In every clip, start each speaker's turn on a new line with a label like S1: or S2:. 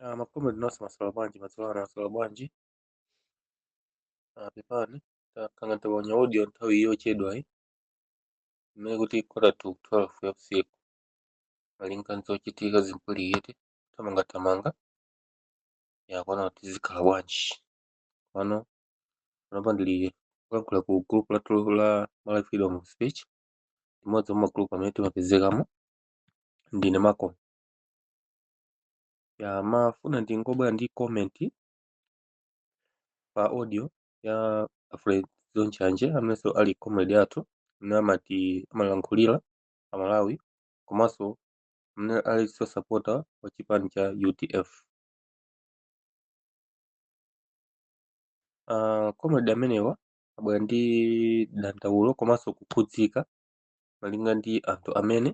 S1: Ah, macomrade nonse mwaswera bwanji madzulo ano mwaswera bwanji ah, pepani takanga taponya audio nthawi yochedwayi imene kuti quarter to 12 ya usiku malinga nzochitika zimpuliyete thamangathamanga yakuona kuti zikhala bwanji pano panopa ndili kulankhula ku group lathu la Malawi Freedom of Speech limodzi mwa magroup amene timapezekamo ndine Malcolm Ndimafuna ndingobwera ndi comment pa audio ya Alfred Zonchanje amenenso ali comrade athu amene amati amalankhulira a Malawi komanso amene alinso sapota wa chipani cha UDF. Uh, comrade amenewa abwera ndi dandaulo komanso kukhudzika malinga ndi anthu amene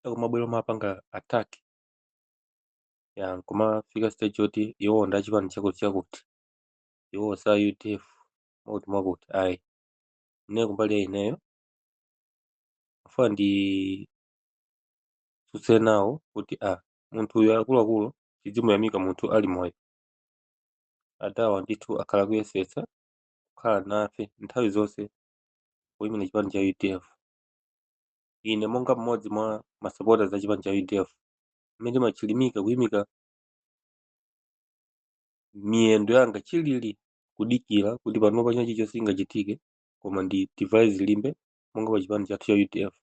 S1: akumabwera kumapanga attack ya nkumafika stage yoti iwo ndi achipani chakuti chakuti iwo sa udf mwakuti mwakuti ayi ine kumbali ya ineyo ndafuna nditsutse nawo kuti a munthu uyu akuluakulu tidzimuyamika munthu ali moyo adawa ndithu akhala akuyesetsa kukhala nafe nthawi zonse kuyimira chipani cha udf Ine monga mmodzi mwa masapota a chipani cha udf amene ndimachilimika kuyimika miyendo yanga chilili kudikira kuti panopa china chilichonse chingachitike koma ndidzivala zilimbe monga pa chipani chathu cha udf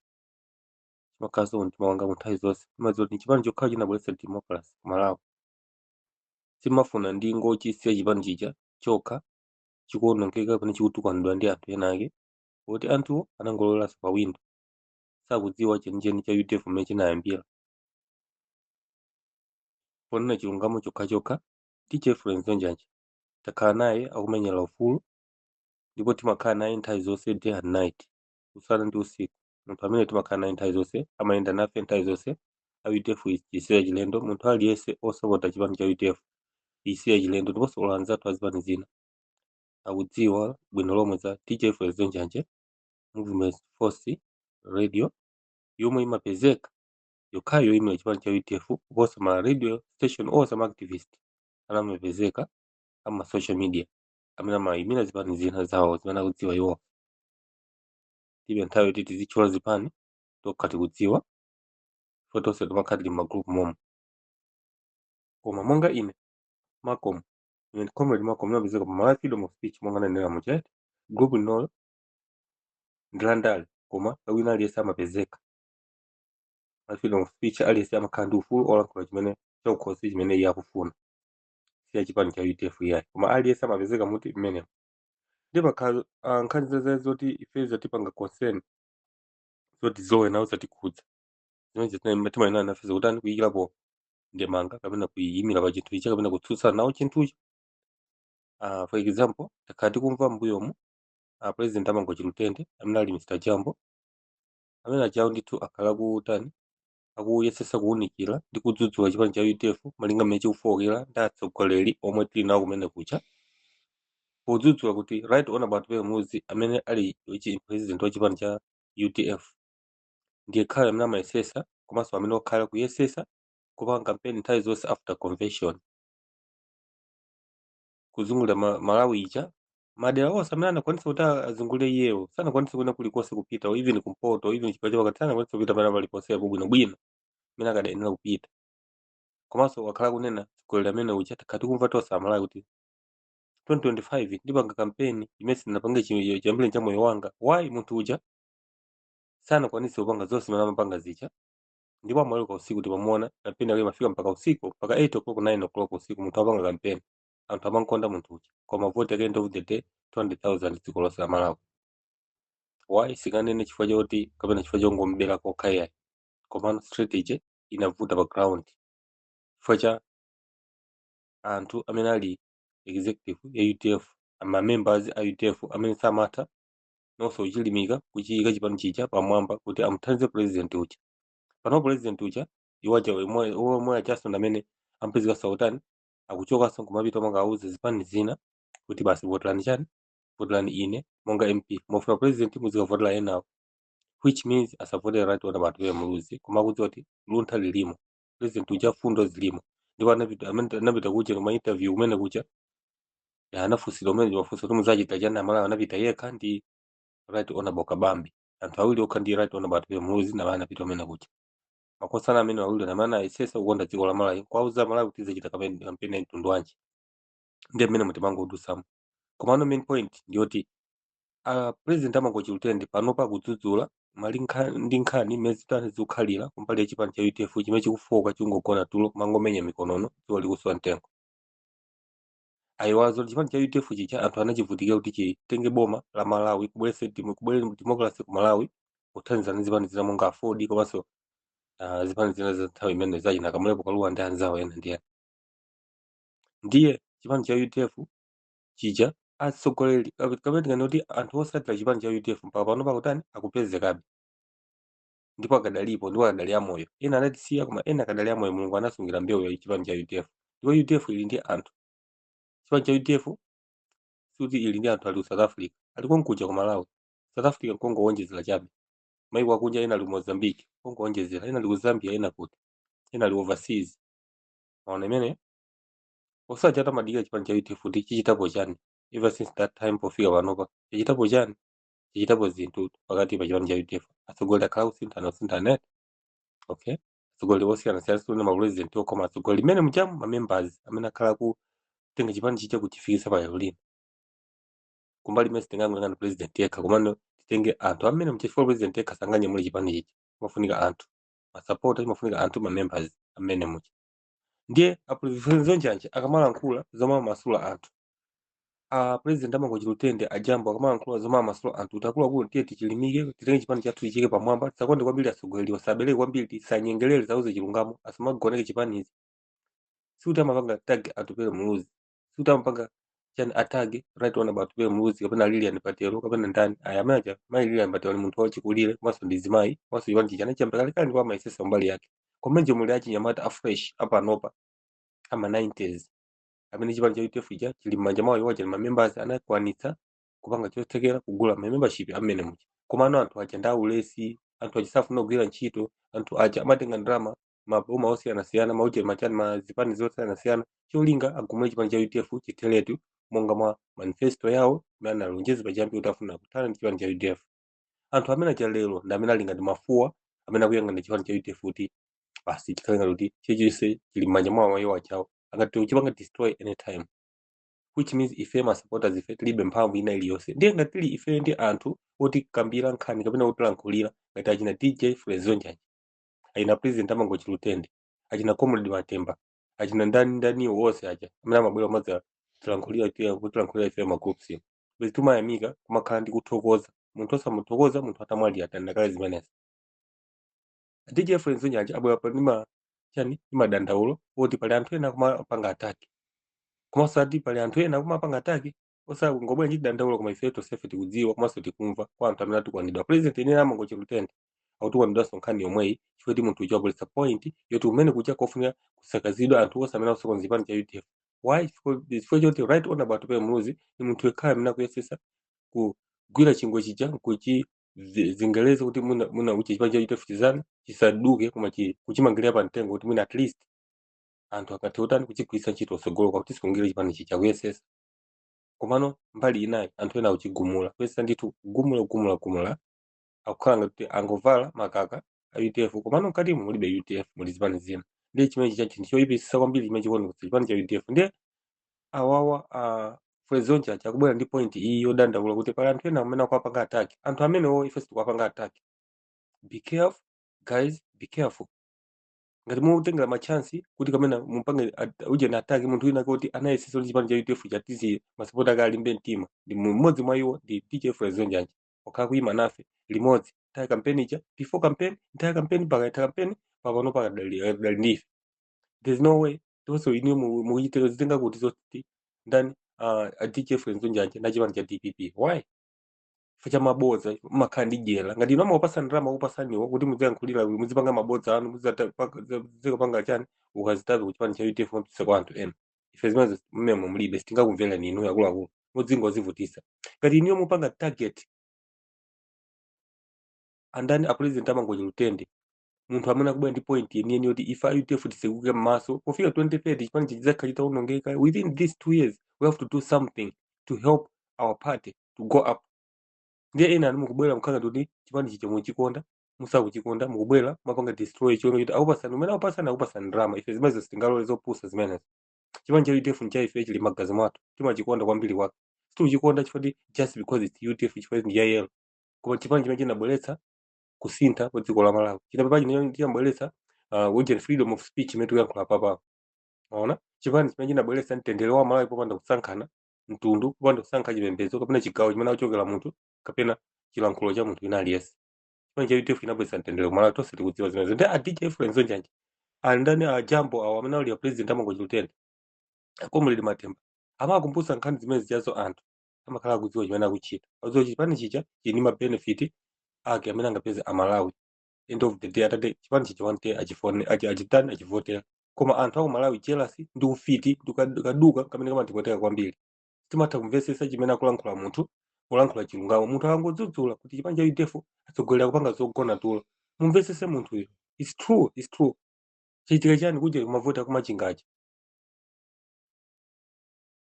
S1: chimakhalanso mtima wangamu nthawi zonse ndimadziwa kuti chipani chokhacho chinabweretsa democracy ku malawi simafuna ndingochisiya chipani chija chokha chikuonongeka pamene chikutukwanidwa ndi anthu ena ake poti anthuwo anangoloweranso pa windo sakudziwa chenicheni cha udf mmene chinayambira ponena chilungamo chokhachokha dj alfred zonchanje takhala naye akumenyera ufulu ndipo timakhala naye nthawi zonse day and night usana ndi usiku munthu amene timakhala naye nthawi zonse amayenda nafe nthawi zonse a udf si yachilendo munthu aliyense osapota chipani cha udf si yachilendo ndiponso olo anzathu a zipani zina akudziwa bwino lomwe za DJ Alfred Zonchanje Movement Force Radio yomwe imapezeka yokhayo yoimira chipani cha UDF kuposa ma radio station onse ama activist amene amapezeka ama social media amene amayimira zipani zina zawo zimene akudziwa iwo tilibe nthawi yoti tizitchula zipani tokha tikudziwa fo tonse timakhala tili m'magroup momo koma monga ine Malcolm ine comrade Malcolm ndimapezeka pa Malawi freedom of speech monga nanenera muchete group linolo ndi la ndale koma wina aliyense amapezeka Malawi freedom of speech aliyense amakhala ndi ufulu olankhula chimene chakukhosi chimene iye akufuna si ya chipani cha udf iyayi koma aliyense amapezeka muti mmenemo ndi pakhala ah, nkhani zazali zoti ife zatipanga concern zoti zomwe nawo zatikhudza Zimenezi zimene timayenera nafe zikutani kuyikirapo ndemanga kapena kuyimira pa chinthu ichi kapena kutsutsana nawo chinthucho. Uh, for example, takhala tikumva m'mbuyomu a president a Mangochi Lutende amene ali Mr. Jambo amene ajawo ndithu akhala akutani akuyesetsa kuwunikira ndi kudzudzula chipani cha UDF malinga mmene chikufowokera ndi atsogoleri omwe tili nawo kumene kuja podzudzula kuti right honorable Atupele Muluzi amene ali chi- president wa chipani cha UDF ndiyekhayo amene amayesesa komanso amene wakhala akuyesesa kupanga kampeni nthawi zonse after convention kuzungulira ma- malawi ija madera onse amene anakwanisa kuti a- azungulire iyewo sanakwanisa kwina kulikonse kupita or even kumpoto or even chigawo chapakati sanakwanisa kupita pena paliponsepo bwinobwino amene akadayenera kupita komanso wakhala akunena mtsogoleri amene uja takhala tikumva tonse amalawi kuti 2025 ndipanga kampeni imene sindinapange chi- chiyambireni cha moyo wanga why munthu uja sanakwanitse kupanga zonse zimene amapanga zija ndipo amaweruka usiku timamuona kampeni yake imafika mpaka usiku mpaka 8 o'clock 9 o'clock usiku munthu apanga kampeni anthu amankonda munthu uja koma vote at the end of the day 200000 dziko lonse la malawi why sikanene chifukwa choti kapena chifukwa chongomubera kokha iyayi komano strategy inavuta pa ground chifukwa cha anthu amene ali executive ya udf ma members a udf amene samatha nawonso kuchilimika kuchiyika chipani chija pamwamba kuti amuthandize president uja pano president uja iwo aja omwe ajaso ndamene amapezekaso akutani akuchokaso nkumapita kumakauza zipani zina kuti basi votelani chani votelani ine monga mp mavoti a president muzikavotela enawo which means asavotere right honorable atupele muluzi koma akudziwa kuti luntha lilimo president uja mfundo zilimo ndipo anapita amene anapita kuja kuma interview kumene kuja ya anafunsira kumene mafunso kuti muzachita chani amalawi anapita yekha ndi right honorable kabambe anthu awiri okha ndi right honorable atupele muluzi namene anapita kumene kuja makosana amene awiri na amene ayesesa kukonda dziko la malawi kuwauza amalawi kuti azachita kampeni kampeni ya mtundu wanji ndiye mmenemu timangodusamo komano main point ndiyoti a president a mangochi lutende panopa akudzudzula malinga ndi nkhani mmene zitani zikukhalira kumbali ya chipani cha udf chimene chikufooka chingogona tulo kumangomenya mikonono dzuwa likuswa mtengo ayiwazo chipani cha udf chija anthu anachivutikira kuti chitenge boma la malawi kubwerese demo- kubwere democracy ku malawi kuthandizana ndi zipani zina monga aford komanso ah, zipani zina za nthawi imene za achina kamlepo kalua ndi anzawo ena ndi ena ndiye chipani cha udf chija atsogoleri kape- kapena tikane kuti anthu osatira chipani cha udf mpaka panopa kutani akupezekabe ndipo akadalipo ndipo akadali amoyo ena anatisiya koma ena akadali amoyo mulungu anasungira mbewu ya chipani cha udf ndipo udf ili ndi anthu chipani cha udf sikuti ili ndi anthu ali ku south africa ali konkuja ku malawi south africa nkongowonjezera chabe maiko akunja ena ali ku mozambique nkongowonjezera ena ali ku zambia ena kuti ena ali overseas maona imene osati atamadikira chipani cha udf kuti chichitapo chani ever since that time pofika panopa chichitapo chani chichitapo zinthu pakati pa chipani cha udf atsogoleri akhala kusinthana kusinthana eh? okay atsogoleri osiyanasiyana sikuti mapurezidenti okha koma atsogoleri mmenemujamu mamembers amene akhala akutenga chipani chija kuchifikisa pa lero lino kumbali imene sitingangoyang'ana president yekha komano titenge anthu amene mchifukwa president yekha sanganyamule chipanichi chimafunika anthu masapota chimafunika anthu mamembers mmenemuja ndiye a frezo njanje akamalankhula zomwe amasula anthu a president a mangochi lutende a jambo akamalankhula zomwe amasula anthu kuti akuluakulu tiye tichilimike titenge chipani chathu tichike pamwamba tisakonde kwambiri atsogoleri wasabereke kwambiri tisanyengerere zauze chilungamo asamagoneke chipanichi sikuti amapanga attack atupele muluzi sikuti amapanga chani attack right honourable atupele muluzi kapena lilian patel kapena ndani aya amene aja mayi lilian patel ndi munthu wachikulire komanso ndi mzimayi komanso chipani chija anachiyamba kalekale ndipo amayesesa mbali yake komanso muli achinyamata afresh apanopa ama 90s amene chipani cha udf chija chili m'manja mwawo iwo aja ali mamembers anakwanitsa kupanga chothekera kugula mamembership mmenemuja komano anthu aja ndi aulesi anthu aja safuna kugwira ntchito anthu aja amatenga ndalama maboma osiyanasiyana maujeni machani ma zipani zosiyanasiyana cholinga agumule chipani cha udf chitheretu monga mwa manifesto yawo imene analonjeza pachiyambi kuti afuna kuthana ndi chipani cha udf anthu amene aja lero ndi amene ali ngati mafuwa amene akuyang'ana chipani cha udf kuti basi chikhale ngati kuti chilichonse chili mmanja mwawo iwo ajawo angathe kuchipanga destroy anytime which means ife ma supporters ife tilibe mphamvu ina iliyonse ndiye ngati tili ife ndi anthu otikambira nkhani kapena otilankhulira ngati achina dj frezo njanje achina president a mangochi lutende achina comrade matemba achina ndani ndani wonse aja amene amabwera kumadzatilankhulira tiya kutilankhulira ife magroups basi timayamika kumakhala ndi kuthokoza munthu osamuthokoza munthu atamwalira tandakale zimenezi dj frezo njanje abwera apa ndi machani ndi madandaulo oti pali anthu ena kumapanga attack komanso ati pali anthu ena kumapanga attack osangobwera ndi dandaulo koma ife tonsefe tikudziwa komanso tikumva kwa anthu amene atukwanidwa president yenera amangochi lutende akutukwanidwanso nkhani yomweyi chifukwa ti munthu uja wabweretsa point yoti umene kuja kofunika kusakazidwa anthu onse amene akusokoneza chipani cha udf why Chifukwa- chifukwa choti right honorable atupe muluzi ni munthu yekhayo amene akuyesesa kugwira chingwe chija nkuchi zi- zingereza kuti mwina mwina uchi chipani cha udf chizani chisaduke koma chi- kuchimangirira pa mtengo kuti mwina at least anthu akathe utani kuchigwiritsa ntchito kusogolo kwa kuti sikungire chipani chija kuyesesa komano mbali inayi anthu ena akuchigumula kuyesesa ndithu kugumula kugumula kugumula akukhala ngati kuti angovala makaka a udf komano mkatimo mulibe udf muli zipani zina ndiye chimenechi cha chinthu choyipitsisa kwambiri chimene chikuoneka chipani cha udf ndiye awawa a Frezo Njanje akubwera ndi point iyi yodandaula kuti pali anthu ena amene akuwapanga attack anthu amenewo ife sitikuwapanga attack be careful guys be careful ngati mutengera machansi kuti kamena mumpange at- uje na ataki munthu wina kuti anayesesa kuti chipani cha udf chatiziye masapota ake alimbe mtima ndi mu- mmodzi mwa iwo ndi dj frezo njanje wakhala kuyima nafe limodzi nthawi kampeni ija before campaign nthawi kampeni mpaka itha kampeni papano akadali eh, dali ndife there's no way tonso inuyo mu- mukuchitika zitenga kuti zoti ndani ah, a dj frezo njanje na chipani cha dpp why chifukwa cha mabodza mumakhala ndi dyera ngati inu amawapasa ndalama akupasaniwo kuti mudziyankhulira uyu muzipanga mabodza anu muzikapanga chani mukazitape ku chipani cha udf mupitisa kwa anthu ena ife zimenezo mmemo mulibe sitingakumvereni inu akuluakulu mudzingozivutisa ngati inuyo mupanga target andani a president amangochi lutende munthu amene akubwera ndi point yeniyeni yoti ife a udf tisekuke m'maso pofika 2030 chipani chidzakhala chitawonongeka within these two years we have to do something to help our party to go up ndiye ena inu mukubwera mukhala kuti chipani chija muchikonda musakuchikonda mukubwera mapanga destroy chiona kuti akupasani umene akupasani akupasani ndalama ife zimenezo sitingalole zopusa zimenezo chipani cha udf ncha ife chili magazi mwathu timachikonda kwambiri kwake sitikuchikonda chifukwa just because its udf chifukwa ndi yayelo koma chipani chimene chinabweretsa kusintha kwa dziko la Malawi. Chipani chimene chinabweretsa uh, words and freedom of speech imene tikuyankhula papa. Unaona? Chipani chimene chinabweretsa mtendere wa Malawi popanda kusankhana mtundu, popanda kusankha chipembedzo kapena chigawo chimene akuchokera munthu kapena chilankhulo cha munthu wina aliyense. Chipani cha UDF chinabweretsa mtendere ku Malawi tonse tikudziwa zimenezo. Ndi a DJ Frezo Njanje andani a Jambo awo amene ali a president amangochi lutende a comrade matemba amakumbutsa nkhani zimene zijazo anthu amakhala akudziwa chimene akuchita akudziwa kuti chipani chija chili ndi mabenefit ake amene angapeze amalawi end of the day atate chipani chija one day achifune achi- achitani achivotera koma anthu aku malawi jealous ndi ufiti ndi kad- kaduka kamene kamatipweteka kwambiri timatha kumvetsetsa chimene akulankhula munthu kulankhula chilungamo munthu akangodzudzula kuti chipani cha udf atsogoleri akupanga zogona tulo mumvetsetse munthuyo its true its true chitika chani kunja kumavota kumachingachi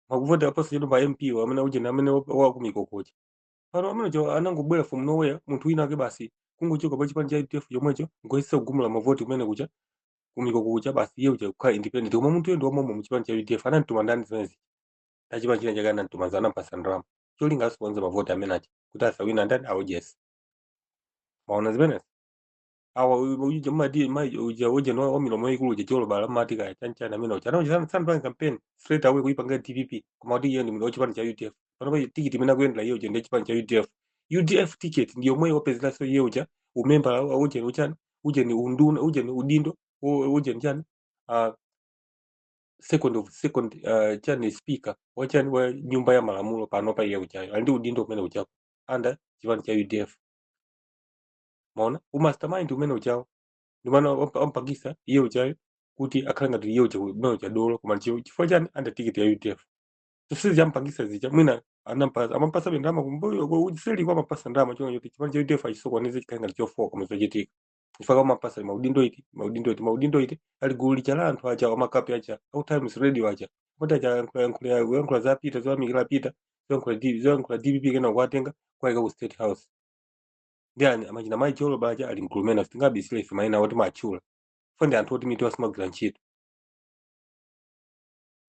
S1: makuvota aposachedwa pa mp wa amene ujeni amene wa- wa ku mikoko kuja pano amene uja anangobwera from nowhere munthu winawake basi kungochoka pa chipani cha udf chomwecho kungoyesa kugumula mavoti kumene kuja kumikoko kuja basi iye uja kukhala independent koma munthu yo ndi wamomwemo mu chipani cha udf anamtuma ndani zimenezi ndi chipani china chake anamtuma za anampasa ndalama cholinga asiponze mavoti amene aja kuti asawine ndani aujeni mwaona zimenezi awa uja madi mai uja uja no wa milomo ikulu uja jolo bala mati ka chancha na mino chana uja san plan campaign straight away kuipanga DPP koma kuti yeye mino chipani cha UDF pano pa tikiti mina kuendela yeye uja ndi chipani cha UDF UDF ticket ndiyo mwe wapezela so yeye uja umemba wa uja ni uchani uja ni unduna uja ni udindo u- uja ni chani ah second of second uh, chani speaker wa chani wa nyumba ya malamulo pano pa iye ujayo ali ndi udindo umene ujapo anda chipani cha UDF mwaona umastermind umene ujawo ndi amene ampangisa iye ujayo kuti akhale ngati iye uja umene uja dolo koma chi- chifukwa chiyani anda tiketi ya udf zonsezi ampangisa zija mwina anampasa amampasa be ndalama kumbuyo kwa kuseliko amapasa ndalama choncho kuti chipani cha udf achisokoneze chikhale ngati chofoka koma zochitika chifukwa amapasa maudindo iti maudindo iti maudindo iti ali gulu lija la anthu aja amakape aja a times radio aja kuti aja yankhula yankhula yankhula za pita zoyamikira pita zoyankhula D- zoyankhula dpp kenako kuwatenga kuwaika ku state house ndi ani achina mayi cholo baja ali mkulumena sitingabisire ife mayina otiwatchula ife ndi anthu oti mitu yawo simagwira ntchito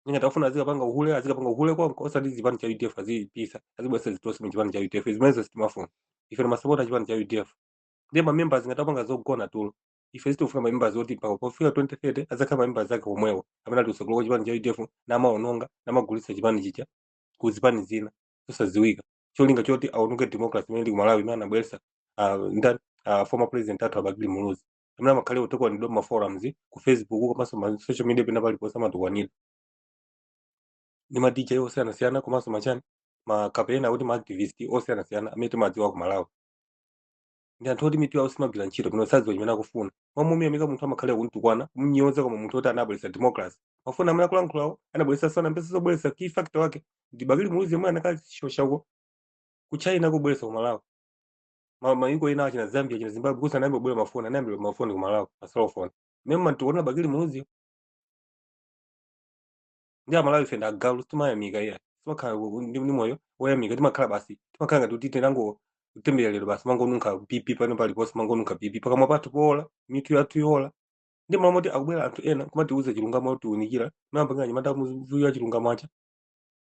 S1: ndi ngati afuna azikapanga uhule azikapanga uhule konko osati chipani cha udf azipisa azibweresa zitosi mu chipani cha udf zimenezo sitimafuna ife ni masapota chipani cha udf ndiye mamemba zake ngati apanga zogona tulo ife sitifuna mamemba zoti mpaka pofika 2030 azakhale mamemba zake omwewo amene ali kusogolo kwa chipani cha udf namaononga namagulitsa chipani chija ku zipani zina zosadziwika cholinga choti aononge democracy imene ili ku malawi imene anabweretsa ah, ndani ah, former president athu abakili muluzi amene amakhala akutukwanidwa m'ma forums ku facebook komanso ma social media pena paliponse amatukwanidwa ndi ma dj osiyanasiyana komanso machani ma kapena kuti ma activist osiyanasiyana amene timawadziwa ku malawi ndi anthu oti mitu yawo simagwira ntchito pano sadziwa chimene akufuna m'malo momuyamika munthu amakhala kumtukwana kumnyoza koma munthu oti anabweretsa democracy mafoni amene akulankhulawo anabweretsa sinambeza kubweretsa key factor wake ndi bakili muluzi yemwe anakashosha uko ku china kubweretsa ku malawi Ma- mayiko ena achina zambia achina zimbabwe kusanayambe kubwera mafoni anayamba kubwera mafoni ku malawi maselofoni nde mumamtukwana bakili muluzi ndi amalawi ife ndi agalu sitimayamika iyayi sitimakhala ku- ku- ndi ndi moyo woyamika timakhala basi timakhala ngati kuti tinangotembereredwa basi timangonunkha pipi pano paliponse timangonunkha pipi pakamwa pathu poola mitu yathu yoola ndi m'malo moti akubwera anthu ena kumatiuza chilungamo otiunikira timayamba anyamata muziwa chilungamo aja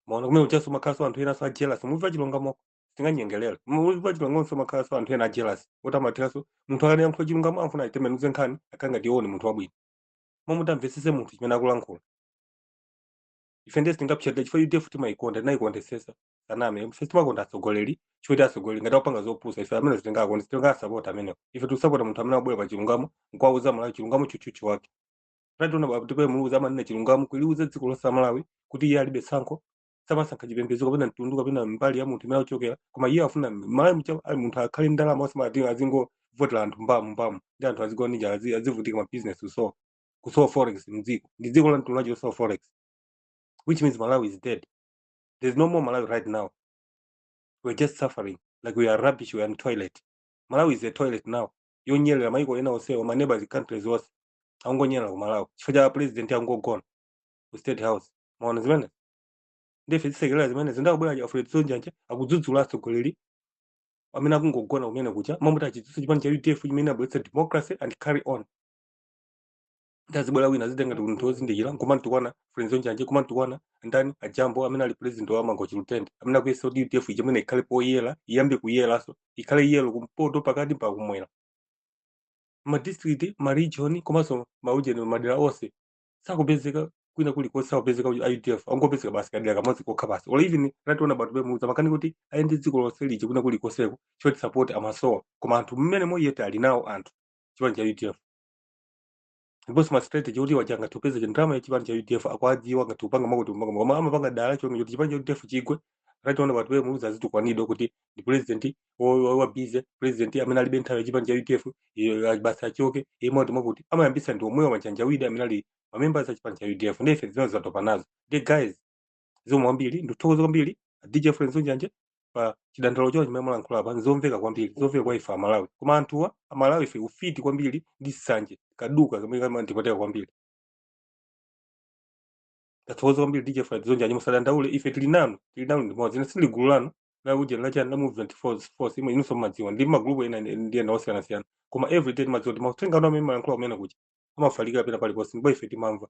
S1: mwaona kumene ujanso amakhalanso anthu ena so ajealous muzimva chilungamo sitinganyengelere muzimva chilungamo so amakhalanso anthu ena ajealous oti amatinso munthu akayankhula chilungamo amafuna ayitembenuze nkhani akhale ngati iwo ni munthu wabwino momwe muti mumvetsetse munthu chimene akulankhula ife ndiye sitingapsatire chifukwa udf timayikonda tinayikondetsetsa tisaname ife timakonda atsogoleri chifukwa atsogoleri ngati akupanga zopusa ife amene sitingakonde sitingasapote amenewo ife tikusapota munthu amene akubwera pa chilungamo nkuwauza malawi chilungamo tchutchutchu wake tationa baba atupele muluzi amanena chilungamo kuliuza dziko lonse la malawi kuti iye alibe tsankho samasankha chipembedzo kapena mtundu kapena mbali ya munthu imene akuchokera koma iye afuna mmalawi aliyense ali munthu akhale ndalama osamati azingovotera anthu mbamu mbamu ndi anthu azigona ndi njala azi- azivutika mabizinesi kusowa kusowa forex mdziko ndi dziko la mtundu wachi losowa forex which means malawi is dead there's no more malawi right now we're just suffering like we are rubbish we are in toilet malawi is a toilet now yonyerera maiko ena onsewa ma neighbors countries onse angonyerera ku malawi chifukwa cha president angogona ku state house maona zimene ndife tizisekerera zimene zindakubwera cha fred sonjanja akudzudzula atsogoleri amene akungogona kumene kuja mmamuti achitsitsa chipani cha udf chimene abweretsa democracy and carry on ndazibwera wina azitenga ndi munthu wozindikira nkumantukwana fred sonjanja kumantukwana ndani ajambo amene ali president wa mangochi lutende amene akuyesa kuti udf ija amene ikhale poyera iyambe kuyeranso ikhale yelo kumpoto pakati pa kumwera madistrict maregion komanso maujeni madera onse sakupezeka kwina kuli konse sakupezeka ku UDF angopezeka basi kadera kamodzi kokha basi or even achina atupele muluzi amakana kuti ayende dziko lonse lija kwina kuli konseko choti support amasowa koma anthu mmene moyete ali nawo anthu chipani cha UDF ndiponso ma strategy kuti apa tingathe kupeza ndalama ya chipani cha UDF akwadziwa ngati upanga makuti upanga koma amapanga dala cholinga choti chipani cha UDF chigwe achina atupele muluzi azitukwanidwa kuti ndi president wa busy president amene alibe nthawi ya chipani cha udf iyo, a- basi achoke iye moti mwakuti amayambisa ndi omwewa machanjawidi amene ali mamembers a chipani cha udf ndi ife zimene zatopa nazo ndi guys zomwe kwambiri ndikuthokoza kwambiri dj fred sonjanja pa chidandaulo chawo chimene mulankhula apa nzomveka kwambiri zomveka kwa ife amalawi koma anthuwa amalawi ife ufiti kwambiri ndi sanje kaduka kamene kamatipweteka kwambiri tathokoza kwambiri dj fred sonjanja musadandaule ife tili nanu tili nanu limodzi ine sindili gulu lanu la ujeni la chani la movement force force imwe inunso mumadziwa ndi magrupu ena ndi ena osiyanasiyana koma everyday timadziwa kuti mauthenga anu amene mumalankhula kumene kuja amafalikira pena paliponse ndipo ife timamva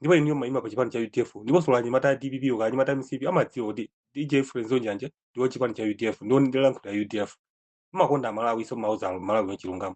S1: ndipo iniyo maima pa chipani cha udf ndiponso anyamata a dpp anyamata a mcp amadziwa kuti dj fred sonjanja ndiwo chipani cha udf ndiwo ndilankhula ya udf amakonda amalawi nso amauza malawi chilungamo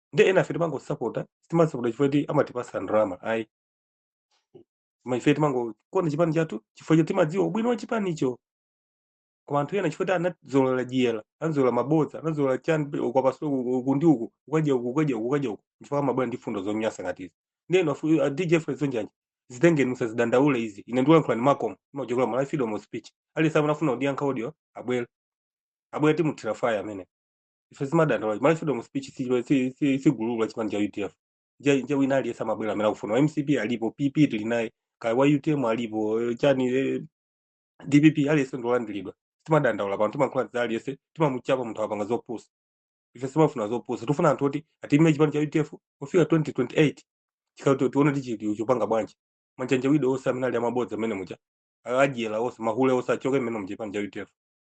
S1: ndi enafe timangosapota sitimasapota chifukwa ti amatipasa ndalama ayi koma ife timangokonda chipani chathu chifukwa choti timadziwa ubwino wa chipanicho koma anthu ena chifukwa ti anazolowera dyera anazolowera mabodza anazolowera chani ukapasula uku ndi uku ukadya uku ukadya uku ukadya uku chifukwa amabwera ndi fundo zonyasa ngati izi ndeno afu- a dj fred sonjanja zitengeni musazidandaule izi ine ndikulankhula ndi makomo imachokera malawi freedom of speech aliyense amene afuna kundiyankha audio abwere abwere timuthira faya amene ife simadandaula timalola freedom of speech si- si- si- sigululu chipani cha udf nje nje wina aliyense amabwera amene akufuna wa mcp alipo pp tili naye kaya wa utm alipo eh, chani eh, dpp aliyense ndiolandiridwa simadandaula pano timankhula za aliyense timamuchapa munthu apanga zopusa ife simafuna zopusa tifuna anthu oti atumikire chipani cha udf kufika 2028 chikuti tione tichiti chopanga bwanji manjanja wido onse amene ali amabodza amene muja adyera onse mahule onse achoke mmene muchipani cha udf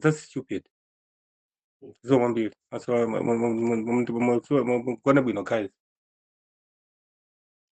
S1: That's stupid. Zo kwambiri. That's why mukugona bwino guys.